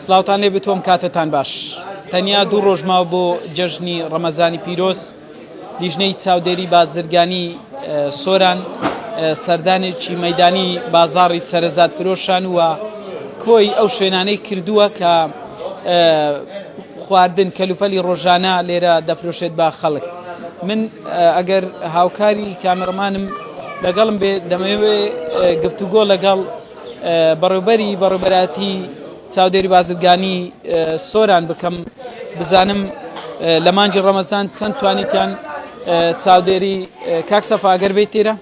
سلااوان لێ بتۆم کاتتان باش تەنیا دوو ڕۆژماو بۆ جەژنی ڕەمەزانی پیرۆز لیژنەی چاودێری بازرگانی سۆران سەردانێکی مەدانی بازاری سەرزاد فرۆشان وە کۆی ئەو شوێنانەی کردووە کە خواردن کەلوپەلی ڕۆژانە لێرە دەفرۆشێت بە خەڵک من ئەگەر هاوکاری کامەڕمانم لەگەڵم بێت دەمەوێت گفتوگۆ لەگەڵ بەڕێوبەری بەڕێبەراتی چاودێری بازرگانی سۆران بکەم بزانم لە مانجی ڕەمەزان چەند توانیتیان چاودێری کاک سەفاگەر بێت تێرە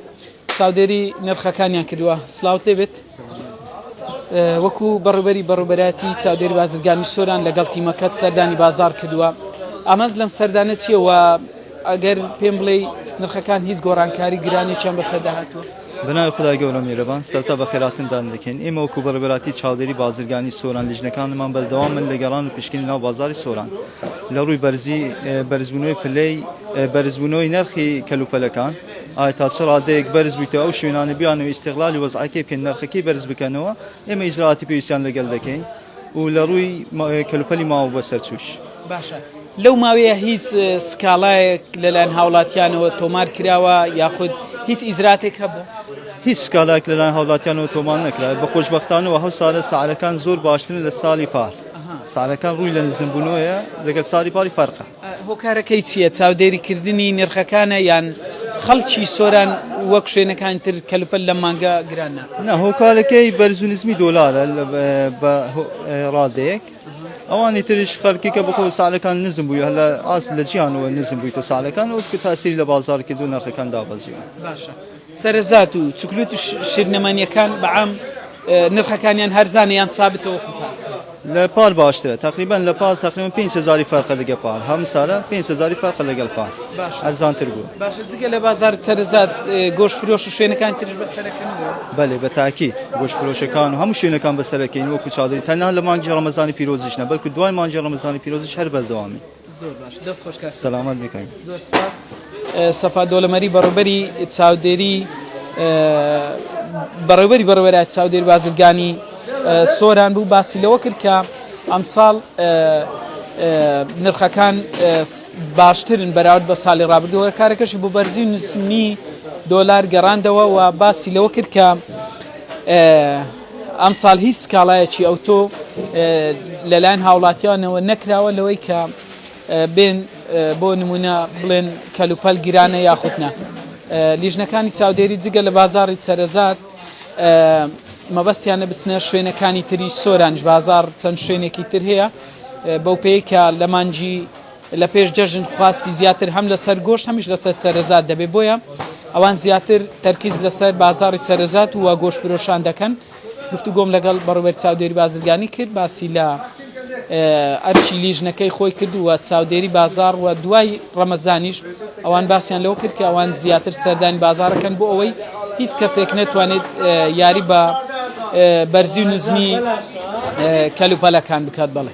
چاودێری نرخەکانیان کردووە سلااوت لێ بێت وەکو بەڕبەری بەڕبەراتی چاودێری بازرگانی سۆران لەگەڵ تیمەکەت سەردانی بازار کردووە ئامانج لەم سەردانە چیەوە ئەگەر پێم بڵێ نرخەکان هیچ گۆڕانکاری گرانی چەند بەسەردا هاتووە بناوی خدای گەورە میرەبان سەرتا بە خێراتندان دەکەین ئێمە وەکو بەڕبەراتی چاودێری بازرگانی سۆران لیژنەکانمان بەردەوام من لە گەڕان و پشکنی ناو بازاری سۆران لە ڕووی بەرزی بەرزبوونەوەی پلەی بەرزبوونەوەی نرخی کەلوپەلەکان ئایا تا چ ڕادەیەک بەرز بوویتەوە ئەو شوێنانە بیانەوە ئیستغلالی وەزعەکەی بکەن نرخەکەی بەرز بکەنەوە ئێمە ئیجرائاتی پێویستیان لەگەل دەکەین و لە ڕووی کەلوپەلی ماوە بە سەرچووش باشە لەو ماوەیە هیچ سکاڵایەک لەلایەن هاوڵاتیانەوە تۆمار کراوە یاخود هیچ ئیزراتێک هەبوو هیچ سکالاک لەلایەن هاوڵاتیانەوە تۆمان نەکرا بە خۆشببختانەوە هەو سارە سعرەکان زۆر باشترن لە ساڵی پار سارەکان ڕووی لە نزمبوونەوەیە لەگەل ساری پاری فەرقە هۆکارەکەی چییە؟ چاودێریکردنی نرخەکانە یان خەڵکی سۆران وەک شوێنەکانی تر کەلوپەل لەم مانگە گران ناخوات؟ نا هۆکارەکەی بەرز و نزمی دۆلارە بە ڕادەیەک. ئەوانی تریش خەرکیکە بخۆ سالەکان نزم بووی هەلا ئاست لە جیانەوە نزم بوویتە سالەکان و کە تاسیری لە بازار کردو نرخەکان دابەزیوە. سەرەزات و چکلوت و شیرنەمانیەکان بە عام نرخەکانیان هەرزانە یان سابتە وەکو پار؟ لە پار باشترە تقریبا لە پار تقریبا 5 هزاری فەرقە لەگە پار هەم سارە 5 هزاری فەرقە لەگەڵ پار ئەرزانتر بوو باشە جگە لە بازار سەرزات گۆش فرۆش و شوێنەکان ترش بەسەرەکەن بەێ بە تاکی گۆش فرۆشەکان و هەموو شوێنەکان بەسەرەکەین وەکو چادری تەنها لە مانگی ڕەمەزانی پیرۆزیشنە بەلکو دوای مانگی ڕەمەزانی پیرۆزیش هەر بەردەوامی زۆر باش دەست خۆش کاک سەلامەت بی کاک زۆر سپاس سەفا دۆلەمەری بەڕێوبەری چاودێری بەڕێوبەری بەڕێوەرای چاودێری بازرگانی سۆران بوو باسی لەوە کرد کە ئەمساڵ نرخەکان باشترن بەراورد بە ساڵی ڕابردووە کارەکەشی بۆ بەرزی نسمی دۆلار گەڕاندەوە و باسی لەوە کرد کە ئەمساڵ هیچ سکاڵایەکی ئەوتۆ لەلایەن هاوڵاتیانەوە نەکراوە لەوەی کە بێن بۆ نمونە بڵێن کەلوپەل گرانە یاخود نە لیژنەکانی چاودێری جگە لە بازاری سەرزاد مەبەستیانە بچنە شوێنەکانی تری سۆرانج بازار چەند شوێنێکی تر هەیە بەو پێی کە لە مانجی لە پێش جەژن خواستی زیاتر هەم لەسەر گۆشت هەمیش لەسەر چەرەزات دەبێت بۆیە ئەوان زیاتر تەرکیز لەسەر بازاری چەرەزات و گۆشت فرۆشان دەکەن گفتوگۆم لەگەڵ بەڕوبەر چاودێری بازرگانی کرد باسی لە ئەرکی لیژنەکەی خۆی کردووە چاودێری بازار و دوای ڕەمەزانیش ئەوان باسییان لەو کرد کە ئەوان زیاتر سەردانی بازارەکەن بۆ ئەوەی هیچ کەسێک نەتوانێت یاری بە بەرزی و نزمی کەلوپەلەکان بکات بڵێ